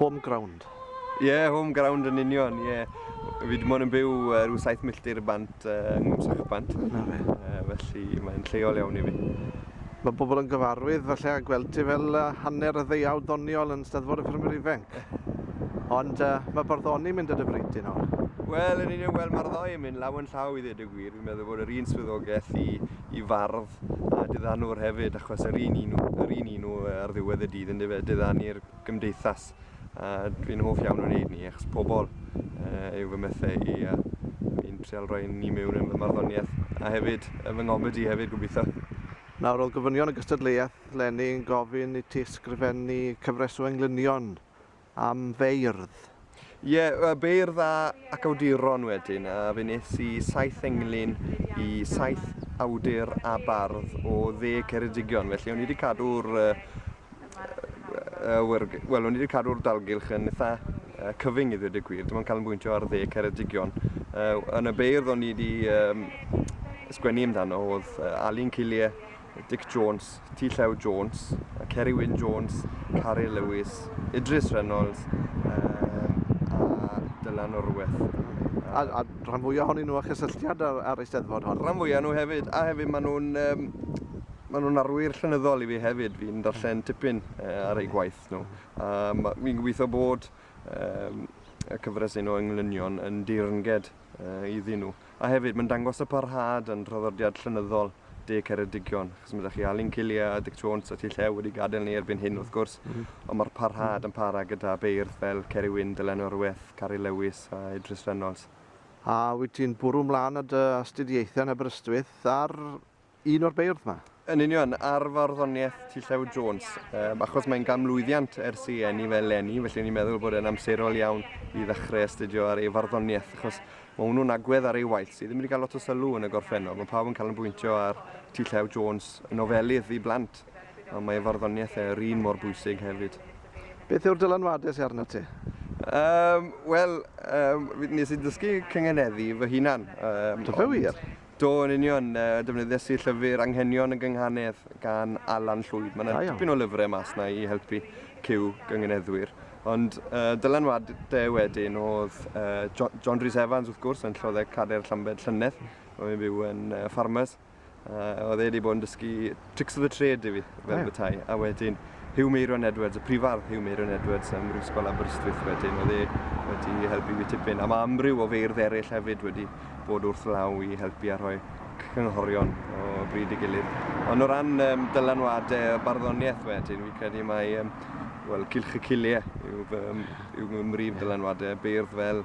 Home ground. Ie, home ground yn union, ie. Fi dim ond yn byw uh, rhyw 7 milltir y bant uh, yng Nghymsachbant. Na fe. Uh, felly mae'n lleol iawn i fi. Mae bobl yn gyfarwydd falle a gweld ti fel uh, hanner y ddeiaw doniol yn Steddfod y Ffermwyr Ifanc. Ond uh, mae barddoni mynd y dyfryd dyn o'n. Wel, yn union, wel, mae'r ddau yn mynd law yn llaw i ddweud y gwir. Fi'n meddwl bod yr un swyddogaeth i, i fardd a diddanwr hefyd, achos yr un un, yr un un nhw ar ddiwedd y dydd yn difed diddanu'r gymdeithas a dwi'n hoff iawn o wneud ni achos pobl uh, yw fy mythau i a fi'n trial rhoi ni mewn yn fy marddoniaeth a hefyd fy ngomedi hefyd gobeithio. Nawr oedd gofynion y gystadleuaeth lenni yn gofyn i ti ysgrifennu cyfres o englynion am feirdd. Ie, beirdd a ac awduron wedyn, a fe nes i saith englyn i saith awdur a bardd o dde Ceredigion, felly o'n i wedi cadw'r uh, uh, wel, o'n i wedi cadw'r dalgylch yn eitha uh, cyfyng i ddweud y gwir, dim ond cael yn bwyntio ar dde Ceredigion. Uh, yn y beirdd o'n i wedi um, sgwennu amdano oedd uh, Alun Cillie, Dic Jones, Ti Llew Jones, Ceri Wyn Jones, Cari Lewis, Idris Reynolds um, a Dylan Orweth. A, a rhan fwyaf ohonyn nhw a chysylltiad ar, ar eisteddfod hon? Rhan fwyaf nhw hefyd, a hefyd maen nhw'n um, maen nhw'n arwyr llenyddol i fi hefyd, fi'n darllen tipyn uh, ar eu gwaith nhw. A fi'n gobeithio bod um, y cyfres un o englynion yn deyrnged iddyn nhw. A hefyd, mae'n dangos y parhad yn traddodiad llenyddol De Ceredigion, achos mae ydych chi Alun Cilia, Dic Jones a Ti Llew wedi gadael ni erbyn hyn, wrth mm. gwrs, mm. ond mae'r parhad yn para gyda beirdd fel Ceri Wyn, Dylan Orweth, Cari Lewis a Idris Reynolds. A wyt ti'n bwrw mlaen y dy astudiaethau yn Aberystwyth ar Un o'r beirdd 'ma? Yn union, ar farddoniaeth Ty Llew Jones, um, achos mae'n gamlwyddiant ers i enni fel lenni, felly ni'n meddwl bod e'n amserol iawn i ddechrau astudio ar ei farddoniaeth, achos mae hwnnw'n agwedd ar ei waith sydd ddim wedi cael lot o sylw yn y gorffennol. Mae pawb yn cael yn bwyntio ar T. Llew Jones yn ofelydd i blant, ond mae farddoniaeth e yr un mor bwysig hefyd. Beth yw'r dylanwadau sy'n arnat ti? Um, Wel, um, nes i ddysgu cyngeneddu fy hunan. Um, Dyfa wir? Do, yn union. Defnyddiais i llyfr Anghenion y Gynghanedd gan Alan Llwyd. Mae yna dipyn o lyfrau mas na i helpu cyw gyngeneddwyr. Ond uh, dylanwadau wedyn oedd uh, John, John Rhys Evans wrth gwrs yn lloddau cader Llambed llynedd. Oedd yn byw yn uh, Farmers. Uh, oedd e wedi bod yn dysgu Tricks of the Trade yw i, fel yeah. bethau. A wedyn, Hugh Meiron Edwards, y prifardd Hugh Meiron Edwards ym Mhrifysgol Aberystwyth wedyn, oedd e wedi helpu fi tipyn. A mae amryw o feirdd eraill hefyd wedi bod wrth law i helpu a rhoi cynghorion o bryd i gilydd. Ond o ran um, dylanwadau a barddoniaeth wedyn, fi credu mae um, well, Cilch y Ciliau yw, um, yw mrif dylanwadau, beirdd fel